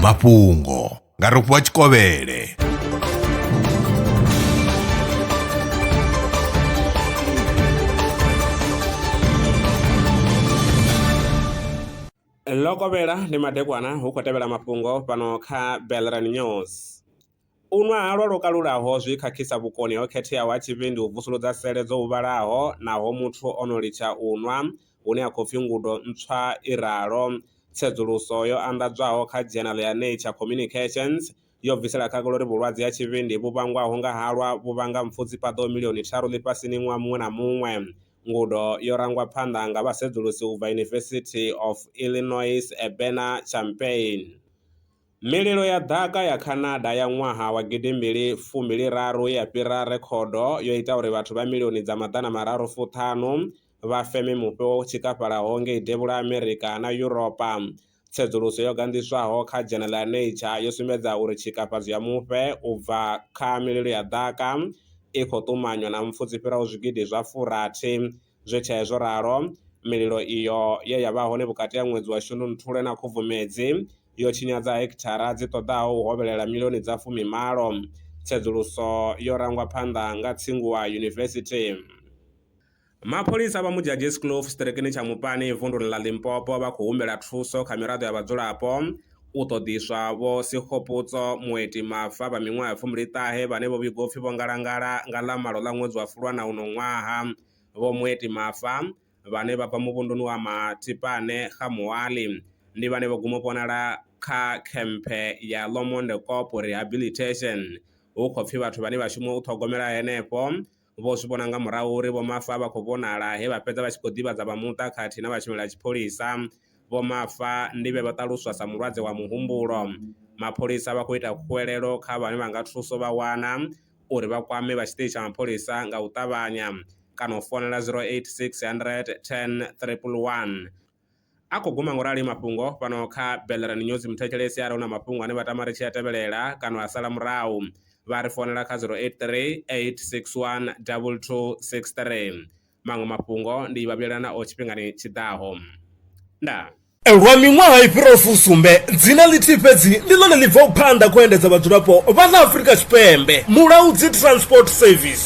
mafhungo nga rofhiwa tshikovhele ḽo kovhela ndi madekwana hu khou tevhela mafhungo fhano kha belran news U nwa halwa lwo kalulaho zwi khakhisa vhukoni ho khetheaho ha tshivhindi u vusuludza sele dzo huvhalaho naho muthu o no litsha u nwa, hune ha khou pfi ngudo ntswa i ralo. Tsedzuluso yo anḓadzwaho kha dzhenala ya Nature Communications yo bvisela khagala uri vhulwadze ha tshivhindi vhu vhangwaho nga halwa vhu vhanga mpfu dzi paḓaho milioni tharu ḽifhasini ṅwaha muṅwe na muṅwe. Ngudo yo rangwa phanḓa nga vhasedzulusi u bva University of Illinois Urbana-Champaign. Mililo ya ḓaka ya Canada ya ṅwaha wa gidi mbili fumbili raru ya fhira rekhodo yo ita uri vhathu vha milioni dza maḓana mararu fu ṱhanu vha feme mufhe wo tshikafhalaho ngei Devhula Amerika na Yuropa. Tsedzuluso yo ganḓiswaho kha dzhenela ya Nature yo sumbedza uri tshikafhadzo ya mufhe u bva kha mililo ya ḓaka i khou ṱumanywa na mpfu dzi fhiraho zwigidi zwa furathi Zwi tea zwo ralo, mililo iyo ye ya vha hone vhukati ha ṅwedzi wa Shundunthule na Khubvumedzi yo tshinyadza hekithara dzi ṱoḓaho u hovhelela milioni dza fumi malo. Tsedzuluso yo rangwa phanḓa nga Tsinghua University. Mapholisa vha Modjadjies Kloof tshiṱirikini tsha Mopani vunduni ḽa Limpopo vha khou humbela thuso kha miraḓo ya vhadzulapo U ṱoḓiswa Vho Sekgopotso Moeti Mafa vha miṅwaha ya fumbiliṱahe ṱahe vhane vho vhigwa upfi vho ngalangala nga ḽa malo ḽa ṅwedzi wa Fulwana uno ṅwaha. Vho Moeti Mafa, vhane vha bva muvhunduni wa Mathipane, Kgamoali, ndi vhane vho guma u vhonala kha khemphe ya Lomonde Kopo Rehabilitation hu khou pfi vhathu vhane vha shuma u ṱhogomela henefho Vho zwi vhona nga murahu uri Vho Mafa vha khou vhonala he vha fhedza vha tshi khou ḓivhadza vha muṱa khathihi na vhashumeli a tshipholisa. Vho Mafa ndi vhe vha ṱaluswa sa mulwadze wa muhumbulo. Mapholisa vha khou ita khuwelelo kha vhane vha nga thuso vha wana uri vha kwame vha tshiṱitshi tsha mapholisa nga u ṱavhanya kana u founela 086 100 10 111. A khou guma ngorali mafhungo fhano kha Bellerin News muthetshelesi are una mafhungo ane vha tama ri tshi a tevhelela kana a sala murahu vha ri founela kha 0838612263 maṅwe mafhungo ndi vha vhuyelana o tshifhingani tshi ḓaho. Ndaa. Lwa miṅwaha i fhiraho fusumbe, dzina ḽithihi fhedzi ndi ḽone ḽi bvaho phanḓa kha u endedza vhadzulapo vha ḽa Afrika Tshipembe, Mulaudzi Transport Service.